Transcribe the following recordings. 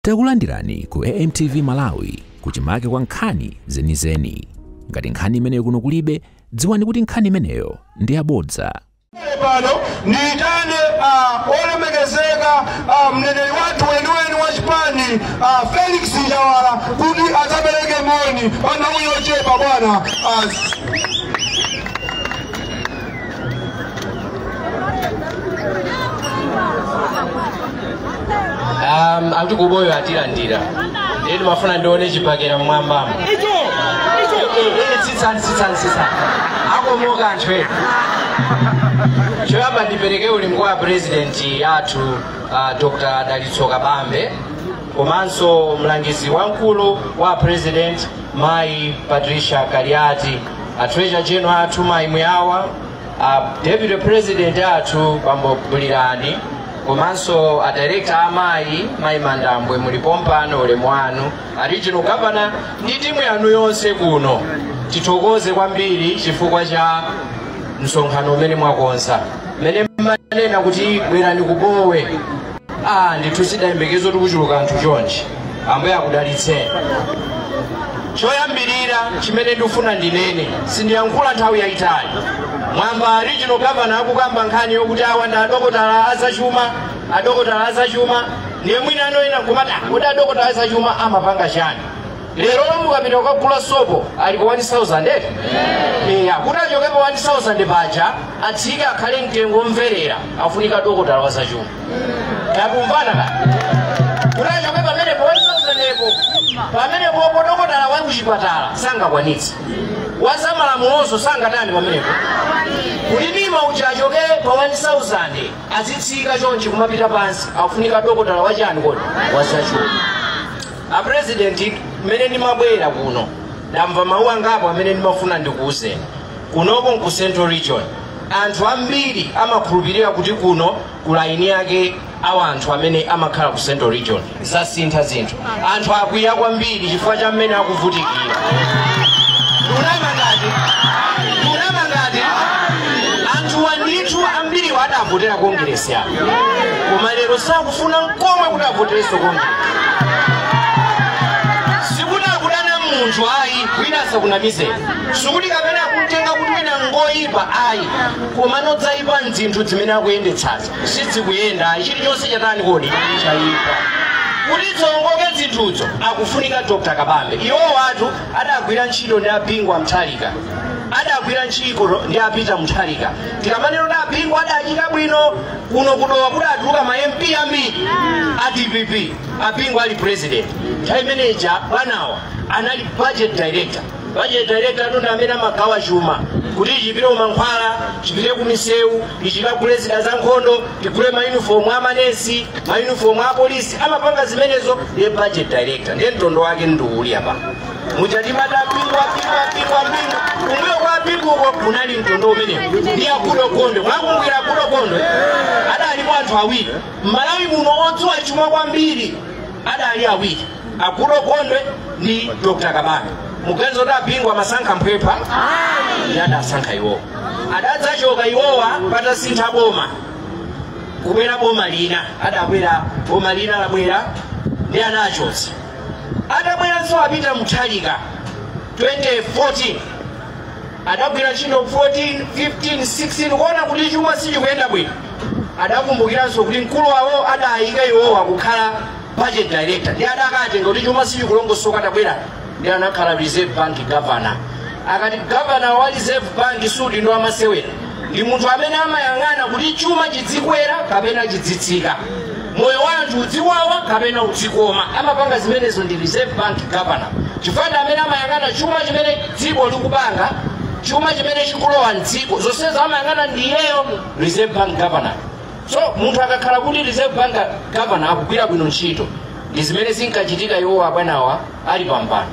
Takulandirani ku AMTV Malawi kuchimake kwa nkhani zenizeni. Ngati nkhani imeneyo kuno kulibe, dziwani kuti nkhani imeneyo ndi yabodza. Pano ndiitane ah, olemekezeka ah, mneneri wathu weniweni wa chipani ah, Felix Njawala kuti adzapereke moni pa nthawi yochepa bwana ah, um, ati kuboyo atilandira ndiye timafuna ndione chibakera mwambamo sitsani sitsani sitsani akomoka anthu ena choyamba ndipereke ulemu kwa purezidenti wathu uh, Dr Dalitso Kabambe komanso mlangizi wamkulu wa purezidenti mayi Patricia Kaliati a treasurer general athu mayi Mwawa a deputy president athu bambo Bulirani komanso a director amayi mayi Mandambwe muli pompano ulemu wanu a regional governor ndi timu yanu yonse kuno tithokoze kwambiri chifukwa cha msonkhano umene mwakonza mmene mmanena kuti bwerani ku Bowe Ah, ndithu sitidayembekeze kuchuluka anthu chonchi ambuye akudalitseni choyambirira chimene ndifuna ndinene sindiyankhula nthawi yayitali mwamva a regional governor akukamba nkhani yokuti awa ndi adokotala azachuma adokotala azachuma ndiye mwina anthu ena kumati Ah, kodi adokotala azachuma amapanga chani lero mukapita kukagula sopo ali pa 1000 eti eya kuti achoke pa 1000 paja atsike akhale mtengo omverera afunika dokotala wa zachuma tikumvana ka kuti achoke pamenepa pa 1000-po pamenepopo dokotala wa kuchipatala sangakwanitse wazamalamulonso sangatani pamenepo kuti Nirma uja achoke pa 1000 azitsika chonchi kumapita pansi afunika dokotala wachani kodi wazachuma a president mmene ndimabwera kuno ndamva mawu angapo amene ndimafuna ndikuwuzeni kunoko nku central region anthu ambiri amakhulupirira kuti kuno kuli eni ake awa anthu amene amakhala ku central region zasintha zinthu anthu akwiya kwambiri chifukwa cha mmene akuvutikira ndunama ngati ndunama ngati anthuwa ndithu ambiriwo adavotera kongeresi apo koma lero sakufuna nkomwe kuti avoterenso kongeresi sikuti akudana naye munthu ayi wina asakunamizeni sikuti kapena akumtenga kuti wina ngoyipa ayi koma zoyipa nzinthu zimene akuyendetsazo sizikuyenda ayi chilichonse chatani kodi chayipa kuti ziwongoke zinthuzo akufunika Dr Kabambe iwowatu adagwira ntchito ndi a Bingu wa Mutharika adagwira ntchito ndi a Peter Mutharika tikamanena kuti abingu adachita bwino kuno kudowa kuti atuluka ma mp ambiri a dpp abingu ali president nthawi imene ija bwanawa anali budget director budget director tu ndi amene amagawa chuma kuti chipite kumankhwala chipite kumisewu ichikagule zida za nkhondo tigule mayunifomu a manesi mayunifomu a polisi amapanga zimenezo ndiye budget director ndiye mtondo wake ndi uwu uli apa muja timati abingu abingu abingu abingu kumbuyo kwa abinguko kunali mtondo umenewo ndi agoodall gondwe mwakumbukira agoodall gondwe adalipo anthu awiri m'malawi muno odziwa chuma kwambiri adali awiri agoodall gondwe ndi dr kabambe muganiza kuti abingu amasankha mphwephwa ndi adasankha iwowa adadzachoka iwowa patasintha boma kubwera boma lina adabwera boma lina labwera ndi anachotsa atabweranso apeter mutharika 2014 adagwira ntchito 14 15 16 kuona kuti chuma sichikuyenda bwino adakumbukiranso kuti mkulu wawo adayika iwowa kukhala budget director ndi adakatenga kuti chuma sichikulongosoka atabwera ndi anakhala reserve bank governor akati governor wa reserve bank si udindo wamasewera ndi munthu amene amayang'ana kuti chuma chidzikwera kapena chidzitsika moyo wa anthu udziwawa kapena udzikoma amapanga zimenezo ndi reserve bank governor chifukwa ndi amene amayang'ana chuma chimene dziko likupanga chuma chimene chikulowa mdziko zonsezo amayang'ana ndi iyeyo reserve bank governor so munthu akakhala kuti reserve bank governor akugwira bwino ntchito ndi zimene zinkachitika iwowa abwanawa ali pampando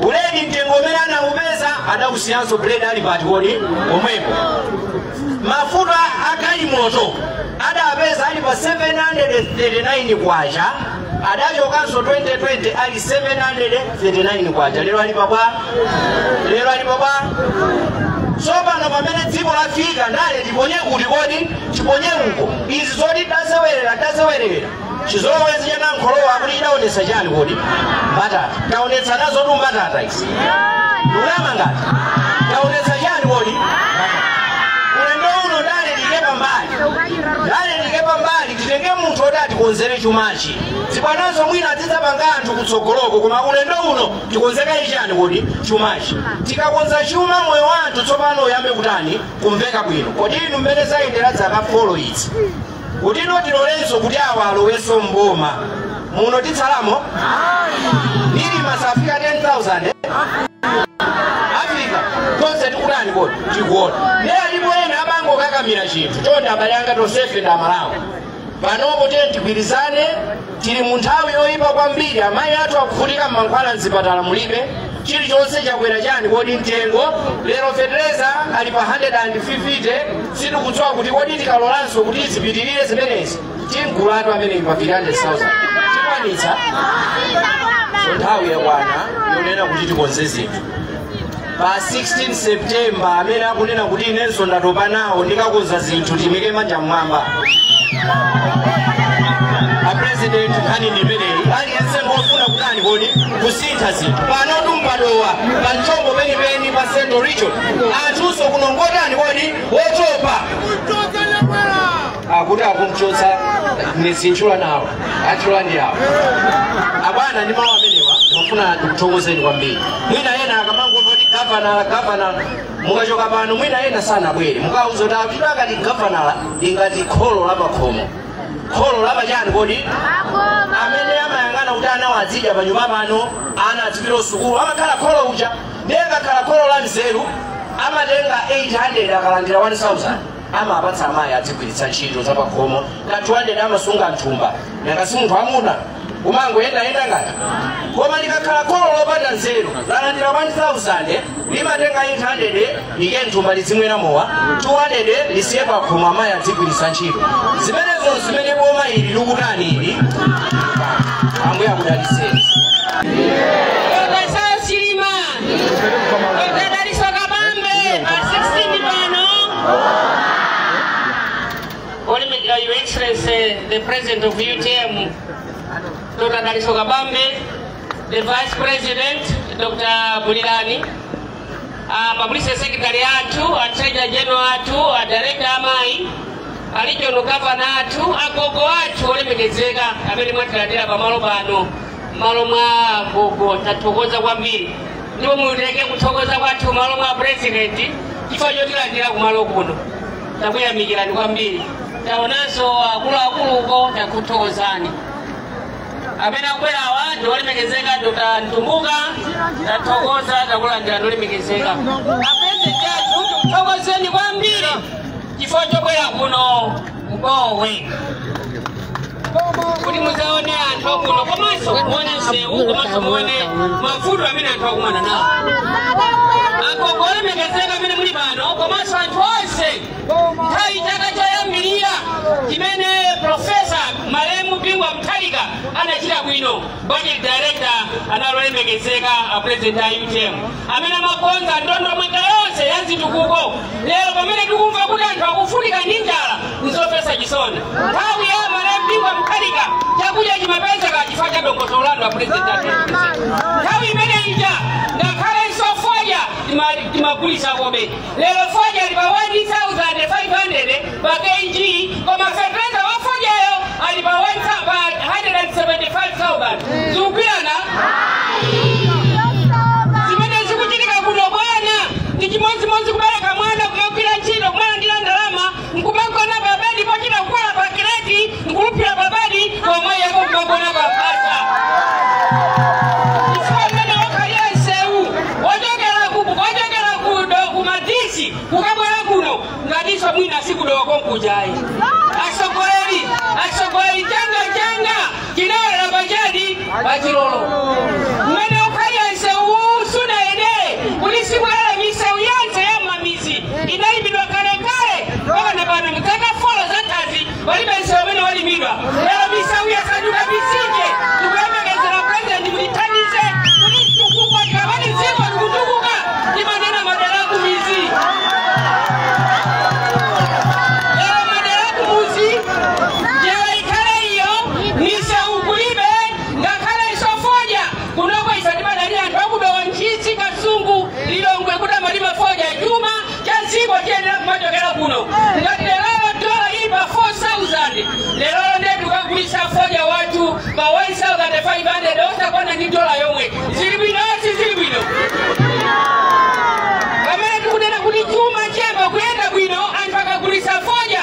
buledi mtengo umene anaupeza adausiyanso buledi ali pati kodi pomwepo mafuta agalimoto adapeza ali pa 739 kwacha adachokanso 2020 ali 739 kwacha lero ali pabwa tsopano pamene dziko lafika ndale tiponye kuti kodi tiponye uko izi zoti tasewerera tasewerera chizolowezi cha nankholowa kuti chidaonetsa chani kodi mbatata taonetsa nazotu mbatata izi ndalama ngati taonetsa chani kodi ulendo uno ndale tiike pambali ndale tiike pambali titenge munthu oti atikonzere chumachi zibwanazo mwina adzapanga anthu kutsogoloko koma ulendo uno tikonze kaye chani kodi chumachi tikakonza chuma moyo wa anthu tsopano uyambe kutani kumveka bwino kodi inu mmene zayendera dzaka folo izi kutino tilolenso kuti awa alowenso mboma muno titsalamo ili masafika 10000 afika tonse tikutani kodi tikuona ne alipo ena amangokakamira chinthu chonde abale anga tonsefe ndi amalawi panopo tiyeni tigwirizane tili mu nthawi yoyipa kwambiri amayi athu akuvutika mmankhwala mzipatala mulibe chilichonse chakwera chani kodi mtengo lero fetereza ali pa 150 sitikudziwa kuti kodi tikalolanso kuti zipitirire zimenezi timgulatu amene pa 300,000 tikwanitsa so nthawi yakwana yonena kuti tikonze zinthu pa 16 september amene akunena kuti inenso ndatopa nawo ndikakonza zinthu timike manja mmwamba apresident nkhani ndi imeneyi aliyense ngofuna kutani kodi kusintha zinthu panotu m'pa Dowa pa mchombo penipeni pa central region anthunso kuno n'ngotani kodi wotopa akuti akumchotsa Nyesi m'chula nawo achula ndi awo abwana ndi mawu amenewa ndimafuna ndikuthokozeni kwambiri mwina ena akamangomva kuti gavanala gavanala mukachoka pano mwina ena sanabwere mukawauza kuti akuti akati gavanala ingati kholo la pakhomo kholo la pachani kodi amene amayang'ana kuti anawa adzidya pa nyumba pano ana adzipita kusukulu amakhala kholo uja ndiye akakhala kholo la nzeru amatenga 800 akalandira 1000 amawapatsa amayi adzigwiritsa ntchito zapakhomo ka 200 amasunga mthumba nanga si munthu wammuna umangoyendayenda ngati koma likakhala kholo lopanda nzeru lalandira 1000 limatenga 800 liike mthumba lizimwera mowa 200 lisiye pakhomo amayi adzigwiritsa ntchito zimenezo n'zimene boma ili likutani ili ambuye akudalitseni Odadaliso kabambe pa 16 pano. Olympic, uh, Your Excellency, the President of UTM, Dr. Daliso Kabambe, the Vice President, Dr. Bulilani, uh, Public Secretary athu, a Treasurer General athu, a Director Amai, a Regional Governor athu, agogo athu olemekezeka amene mwatilandira pamalo pano. m'malo mwa gogo tathokoza kwambiri ndipo mupereke kuthokoza kwathu m'malo mwa purezidenti chifukwa chotilandira kumalo kuno takuyamikirani kwambiri taonanso akuluakulu uko takuthokozani amene akubwerawa ndi olemekezeka dr mtumbuka tathokoza takulandira olemekezeka apurezidenti athu tikuthokozeni kwambiri chifukwa chobwera kuno ku Bowe kuti muzaone anthu akuno komanso muone msewu komanso muone mavuto amene anthu akumana nawo agogo olemekezeka amene muli pano komanso anthu onse nthawi chaka choyambirira chimene profesa malemu Bingu wa Mutharika anachita bwino budget director anali olemekezeka a president a utm amene amakonza ndondomeko yonse ya zitukuko lero pamene tikumva kuti anthu akuvutika ndi njala nzopatsa chisoni nthawi ya malemu Bingu wa Mutharika chakudya chimapezeka chifukwa cha dongosolo lanu a pulezidenti athu nthawi imene ija ngakhalenso foja timagulisa kobe lero foja ali pa 1500 pa kg koma fetereza wa fojayo ali pa 175000 zikugwirizana zimene zikuchitika kuno bwana ndi chimodzimodzi kubereka mwana kumagwira ntchito kumalandira ndalama nkumagona pa bedi pochita kukwera pa kireti n'kulumphira pa bedi pomwe yako kumagona pa mphasa chifukwa mmene wakhalira msewu ochokera ku do- ku madisi kukabwera kuno ngatinso mwina si ku Dowa konkujayi Tinawerama pa chiyani? Pa chilolo. Mmene ukhalira msewuwu sunayendeke kuti sibwala misewu yonse ya m'mamidzi inalimidwa kalekale mpaka na pano mzaka folo zatha palibe msewu umene walimidwa. Lero misewu yasanduka mitsinje. Tikuyembekezera pulezidenti mutithandize kuti chitukuko tikamati dziko likutukuka timanena madera akumidzi. Lero madera akumudzi njira ikhale iyo misewu kulibe ngakhalenso fodya kunoko ife timadalira anthu aku Dowa Ntchisi kasungu lilongwe kuti amalima fodya chuma cha dziko chiyenera kumachokera kuno ngati lerolo dola ili pa 4000 lerolo ndiye tikagulitsa fodya wathu pa 1500 osakwana ni dola yomwe zili bwino si zili bwino pamene tikunena kuti chuma chiyamba kuyenda bwino anthu akagulitsa fodya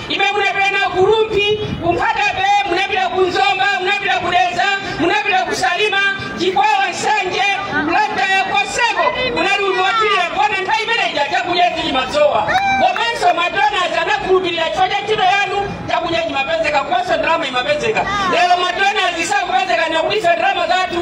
imene munapita nawo ku Rumphi ku Nkhata Bay munapita ku Zomba munapita ku Dedza munapita ku salima chikwawa nsanje Mulantaya koseko munali kukwaniritsa kuona nthawi imeneyi chakudya chimasowa komanso madonas anakukhulupirirani chifukwa cha ntchito yanu chakudya chimapezeka komanso ndalama imapezeka lero madonas sakupezeka nakuliso ndalama zathu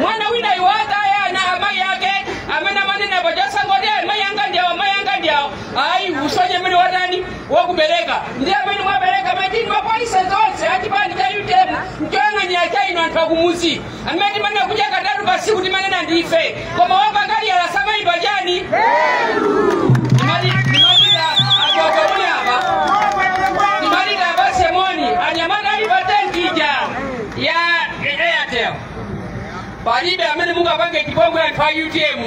mwana wina iye wataya anali amayi ake amene amanena pa chasangoti ayi mayi anga ndiawo amayi anga ndiawo ayi usonye mmene watani wakubereka ndi amene mwabereka matini mapolise zonse achipani cha utm mchoyang'anira cha ino anthu akumudzi amene timanena kudya katatu pasiku timanena ndi ife koma wapakali alasamayidwa chani ndimalira anthu akamuni apa ndimalira abasemoni anyamata ali pa tenti ija ya airtel palibe amene mungapange chipongwe anthu a utm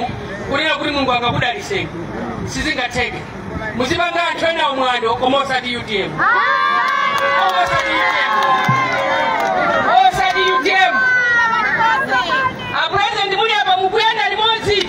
kunena kuti mulungu angakudalitseni sizingatheke muzipanga anthu ena mwano koma osati utm osati utm osati utm apulezidenti muli apa mukuyenda limodzi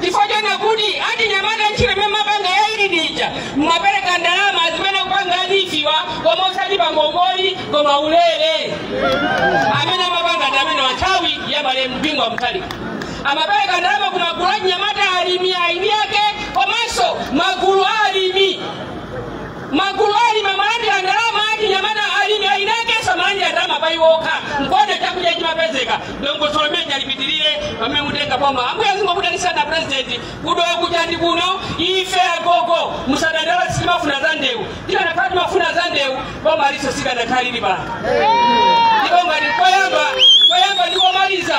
chifukwa chonena kuti achinyamata ntchito imene mumapanga ya relief ija mmapereka ndalama zimene akupanga a relief-wa koma osati pa ngongole koma ulere amene amapanga ndi amene wanthawi ya malemu Bingu wa Mutharika amapereka ndalama ku magulu achinyamata alimi eni ake komanso magulu a alimi magulu a alimi amalandira ndalama achinyamata alimi a irrigation amalandira ndalama pa iwo okha nkuona chakudya chimapezeka dongosolo limene chalipitirire pamene mutenga boma ambuye azingokudalitsani a purezidenti ku dowa kucha ndi kuno ife agogo musadandaule sitimafuna za ndewu tikanakhala timafuna za ndewu boma ilinso sikanakhala lili pano ndipo ngati koyamba koyamba ndikomaliza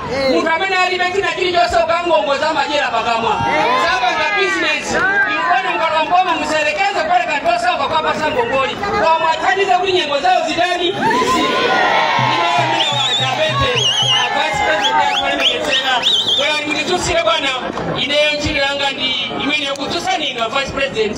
munthu amene alibe china chilichonse ukangongoza amachera pakamwa sapanga bizinesi nkuona mukalowa mboma musalekeze kupereka anthu osauka kuwapatsa ngongole muwathandize kuti nyengo zawo zitani ndikudzutsire bwana ineyo ntchito yanga ndi imene yokudzutsani inu vice president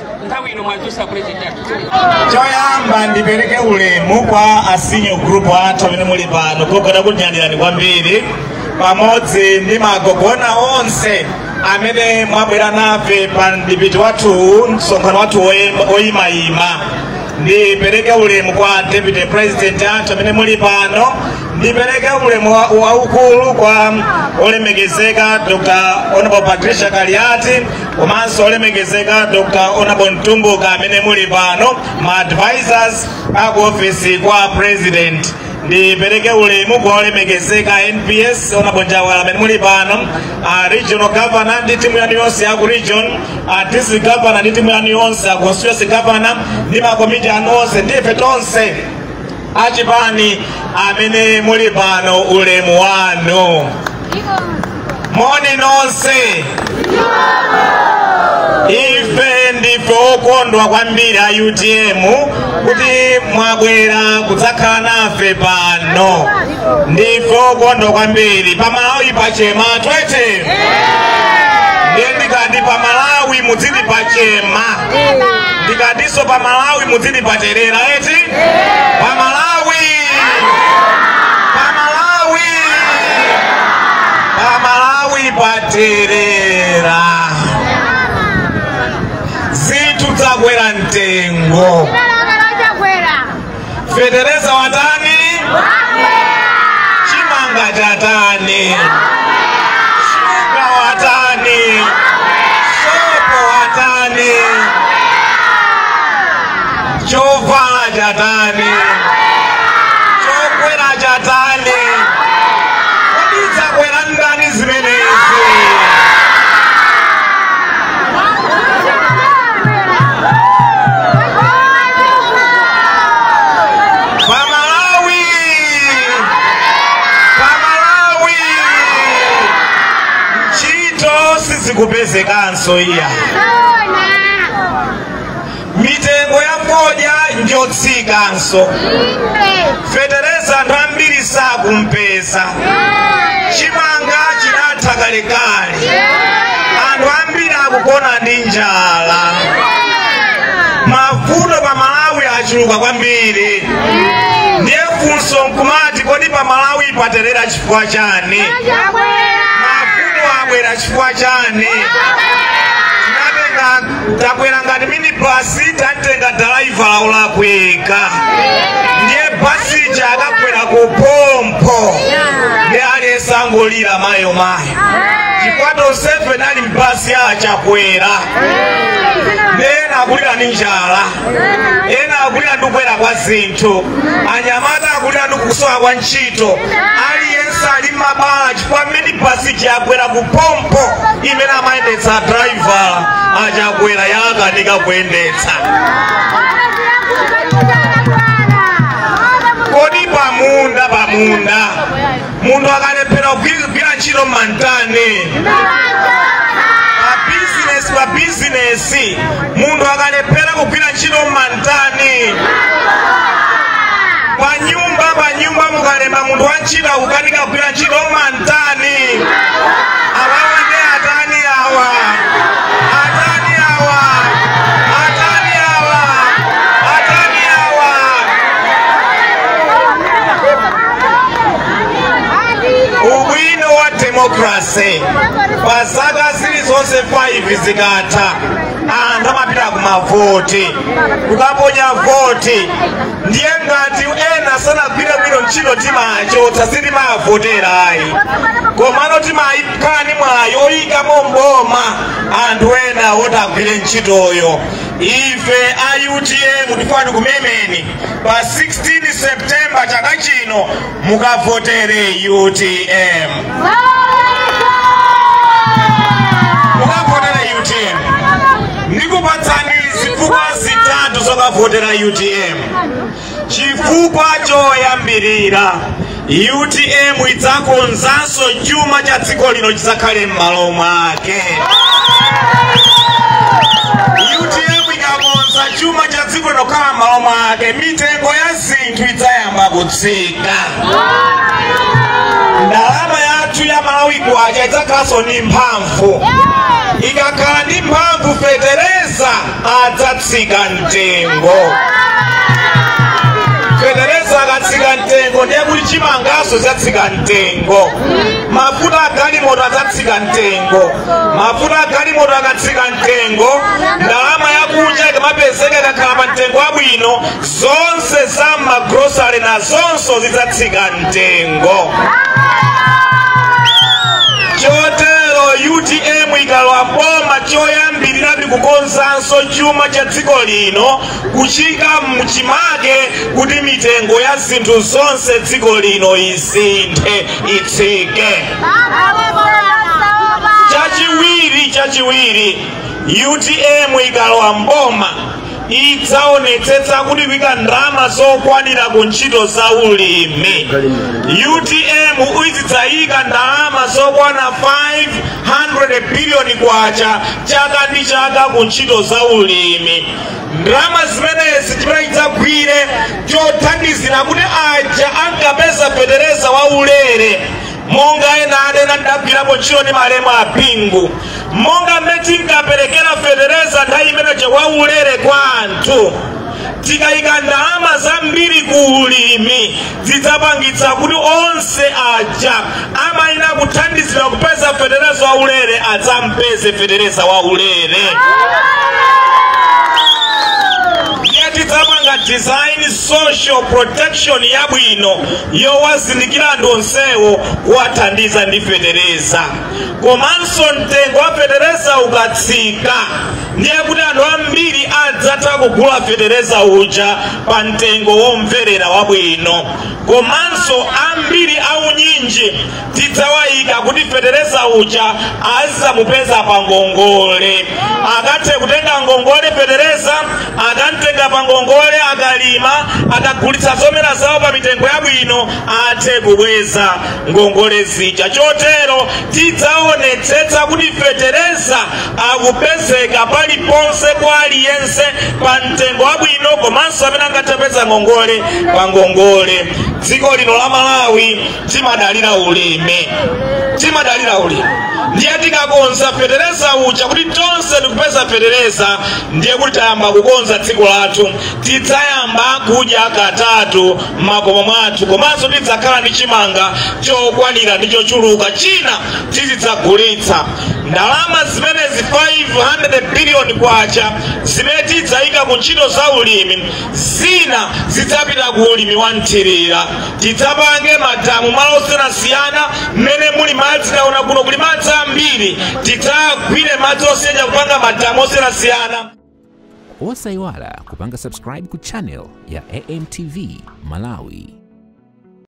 nthawi ino mwadzusa president athu choyamba ndipereke ulemu kwa a senior group athu amene muli pano gogo takunyadirani kwambiri pamodzi ndi magogo ena onse amene mwabwera nafe pa mdipiti wathu msonkhano wathu woyem- woyimayima ndipereke ulemu kwa deputy president athu amene muli pano ndipereke ulemu wa- waukulu kwa olemekezeka dr honorable patricia kaliati komanso olemekezeka dr honorable mtumbuka amene muli pano ma advisors aku ofisi kwa president ndipereke ulemu kwa olemekezeka nps honorable njawala amene muli pano a regional governor ndi timu yanu yonse yaku region a district governor ndi timu yanu yonse a constituency governor ndi makomiti anu onse ndife tonse achipani amene muli pano ulemu wanu moni nonse ife ndife okondwa kwambiri a utm kuti mwabwera kudzakhala nafe pano ndife okondwa kwambiri pa malawi pachema twete ndiye ndikati pa malawi mudziti pachema ndikatinso pa malawi mudziti paterera eti pa malawi pa malawi pa malawi paterera zinthu zakwera mtengo fetereza watani chimanga chatani shuga watani sopo watani chovala chatani chokwera chatani kodi zakwera ndani zimenezi Pamalawi! Pamalawi! Ntchito sizikupezekanso iya. mitengo ya fodya njotsikanso fetereza anthu ambiri sakupeza chimanga chinatha kalekale anthu ambiri akugona ndi njala mavuto pa malawi achuluka kwambiri ndiye funso nkumati kodi pa malawi paterera chifukwa chani mavuto abwera chifukwa chani takwera ngati minibasi tatenga dalaivala olakwika ndiye basi ija yakagwera kuphompho nde aliyense angolira mayo mayo chifukwa tonsefe tili mbasi ya achakwera nde ena akulira ndi njala ena akulira ndi kukwera kwa zinthu anyamata akulira ndi kusowa kwa ntchito aliyense ali mabala pamene basi ija yagwera kuphompho imene amayendetsa a driver achakwera yakanika kuyendetsa kodi pamunda pamunda munthu akalephera kugwira ntchito mumantani pa bizinesi pa bizinesi munthu akalephera kugwira ntchito mumantani tani panyumba panyumba mukalemba munthu wa ntchito akukanika kugwira ntchito mumantani awawa nde atani awa atani awa atani awa atani awa ubwino wa demokrase pa zaka zilizonse 5 zikatha anthu amapita kumavoti kukaponya voti ndiye ngati ena sanagwire bwino ntchito timawachotsa sitimawavotera ayi komano timakhala ndi mwayi oyikamo mboma anthu ena oti agwire ntchitoyo ife a utm tikufuna tikumemeni pa 16 septemba chaka chino mukavotere utm mukavotere utm ndikupatsani zifukwa zitatu zokavotera utm chifukwa choyambirira utm idzakonzanso chuma cha dziko lino chidzakhale m'malo mwake utm ikakonza chuma cha dziko lino kukhala m'malo mwake mitengo ya zinthu idzayamba kudza sika ndalama yathu ya malawi kwacha idzakhalanso ndi mphamvu ikakhala ndi mphamvu fetereza adzatsika mtengo fetereza akatsika mtengo ndiye kuti chimangaso zatsika mtengo mafuta agalimoto adzatsika mtengo mafuta agalimoto akatsika mtengo ndalama yakunja ikamapezeka ikakhala pa mtengo wabwino zonse za magrosale nazonso zidzatsika mtengo chotero utm ikalowa mboma choyambirira ndi kukonzanso chuma cha dziko lino kuchika mchimake kuti mitengo ya zinthu zonse dziko lino isinthe itsike chachiwiri chachiwiri utm ikalowa mboma idzaonetsetsa kuti ikuika ndalama zokwanira ku ntchito za ulimi utm izidzayika ndalama zokwana 500 biliyoni kwacha chaka ndi chaka ku ntchito za ulimi ndalama zimenezi chimene idzagwire chothandizira kuti aja ankapeza fetereza wa ulere monga ena adanena ndagwirapo ntchito ndi malemu a bingu monga mmene tinkaperekera fetereza nthawi imeneje waulere kwa anthu tikayika ndalama zambiri ku ulimi zidzapangitsa kuti onse aja amayenera kuthandizidwa kupeza fetereza waulere adzampeze fetereza waulere ndiye tidzapanga design social protection yabwino yowazindikira anthu onsewo kuwathandiza ndi fetereza komanso mtengo wa fetereza ukatsika ndiye kuti anthu ambiri adzatha kugula fetereza uja pa mtengo womverera wabwino komanso ambiri aunyinji tidzawaika kuti fetereza uja azamupeza pa ngongole akathe kutenga ngongole fetereza akamtenga pa ngongole akalima akagulitsa zomera zawo pa mitengo yabwino athe kubweza ngongole zija chotero tidzaonetsetsa kuti fetereza akupezeka paliponse kwa aliyense pa mtengo wabwino komanso amene angathe kupeza ngongole pa ngongole dziko lino la malawi timadalira ulimi timadalira ulimi ndiye tikakonza fetereza uja kuti tonse tikupeza fetereza ndiye kuti tayamba kukonza dziko lathu tidzayamba kudya katatu m'makomo mwathu komanso tidzakhala ndi chimanga chokwanira ndi chochuluka china tizidzagulitsa ndalama zimenezi 500 biliyoni kwacha zimene tidzayika ku ntchito za ulimi zina zidzapita ku ulimi wa mthirira tidzapange madamu malo osiyanasiyana mmene muli madzi taona kuno kuli madzi ambiri tidzagwire madzi osiyana kupanga madamu osiyanasiyana osayiwala kupanga subscribe ku channel ya amtv malawi